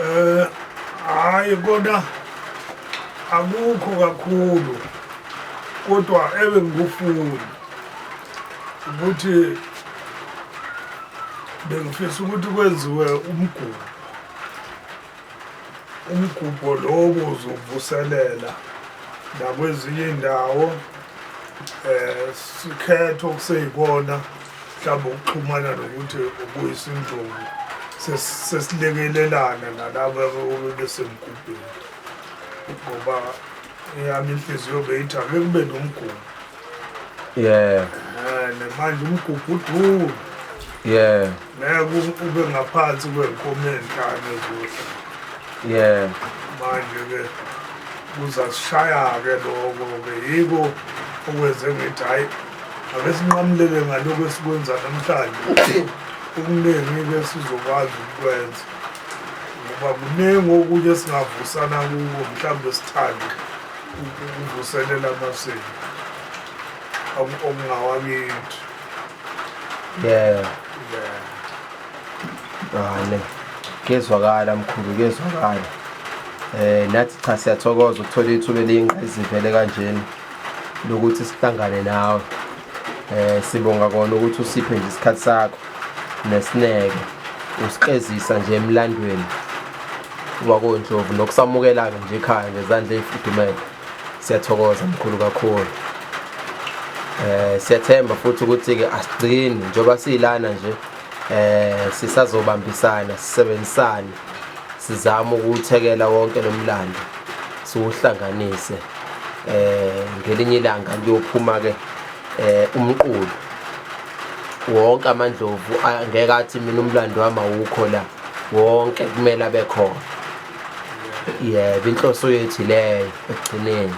Eh hayi kodwa akukho kakhulu kodwa ebe ngikufuni ukuthi bengifisa ukuthi kwenziwe umgubo Umgubho lowo uzovuselela nakwezinye indawo eh sikhetho kuseyikona mhlawumbe ukuxhumana nokuthi ubuyisa injongo sesilekelelana nalabo obebesemgubheni ngoba eyami inhliziyo beyithi ake kube nomgubho yeah Eh, nemanje umgugudulu yeah ngeke u- ube ngaphansi kwenkomo ezinhlanu ezohla yeah manje-ke kuzasishaya-ke loko-ke yiko okwenze ngithi hhayi ake sinqamulele ngalokhu esikwenza namhlanje okuningi-ke sizokwazi ukukwenza ngoba kuningi okunye esingavusana kuko mhlawumbe sithande ukuvuselela amasiko okungawakithi yeah yeah ngane kezwakala mkhulu kezwakala eh nathi cha siyathokoza ukuthola ithuba eliyinqayizivele kanjena lokuthi sihlangane nawe eh sibonga kona ukuthi usiphe nje isikhathi sakho nesineke usiqezisa nje emlandweni wakondlovu nokusamukela-ke nje ekhaya ngezandla eyifudumele siyathokoza mkhulu kakhulu eh siyathemba futhi ukuthi-ke asigcini njengoba siyilana nje eh sisazobambisana sisebenzisane sizama ukuthekela wonke lomlando siwuhlanganise eh ngelinye ilanga kuyophuma ke eh umqulu wonke amandlovu angeke athi mina umlando wami awukho la wonke kumele abe khona yebo inhloso yethu leyo ekugcineni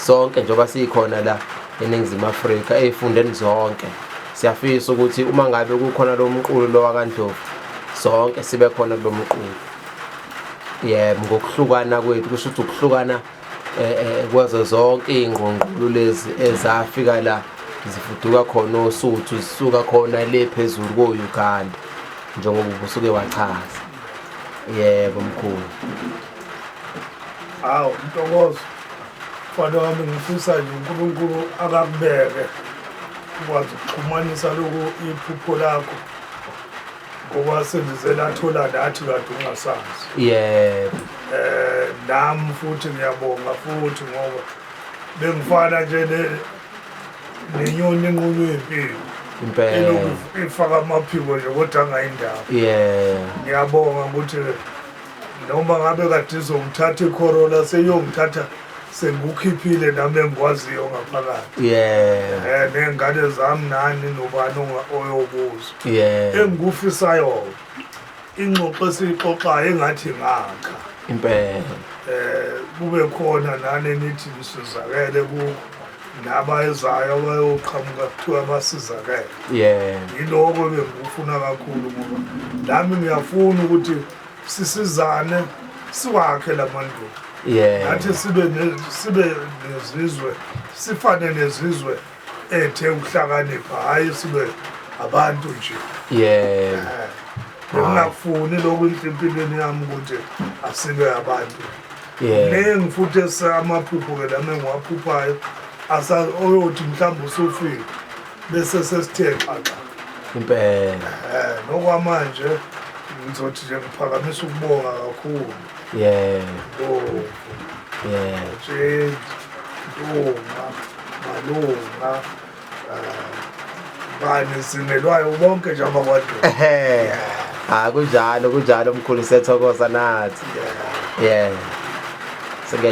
sonke njengoba sikhona la eningizimu Afrika ezifundeni zonke Siyafisa ukuthi uma ngabe kukhona lo mqulu lo wakandlovu sonke sibe khona kulo mqulu yebo ngokuhlukana kwethu kusho ukuthi ukuhlukana eh, eh, kwazo zonke iy'ngqongqulu lezi ezafika la zifuduka khona osuthu zisuka khona le phezulu ko-uganda njengoba ubusuke wachaza yebo mkhulu Hawu Ntokozo mfana wami ngifisa nje uNkulunkulu akakubeke ukwazi ukuxhumanisa lokhu iphupho lakho ngoba sendize lathola nathi kade ungasazi yebo eh nami futhi ngiyabonga futhi ngoba bengifana nje ne nenyoni enqunywe impilo impela ifaka amaphiko nje kodwa angayindaba yeah ngiyabonga ukuthi noma ngabe kade izongithatha ikhorola seyongithatha sengikukhiphile nami engikwaziyo ngaphakathi yeah eh nengane zami nani nobani oyokuzwa yeah engikufisayo ingxoxo esixoxayo engathi ngakha impela eh kube khona nani nithi nisizakele ku laba ezayo abayoqhamuka kuthiwa basizakele yeah yiloko bengikufuna kakhulu ngoba nami ngiyafuna ukuthi sisizane siwakhe lamandulo yeah nathi sibe sibe nezizwe sifane nezizwe ethe ukuhlakanipha hayi sibe abantu nje yeah eh, ngingafuni lokhu impilweni yami ukuthi asibe abantu kuningi futhi esamaphupho-ke lami engiwaphuphayo oyothi mhlawumbe usufile bese sesithe xaxa impela eh nokwamanje ngizothi nje ngiphakamisa ukubonga kakhulu yeah oh yeah jeje nduma malunga eh, bani sinelwayo bonke nje abakwadwa ehe ha ah, kunjalo kunjalo mkhulu sethokoza nathi yeah yeah singay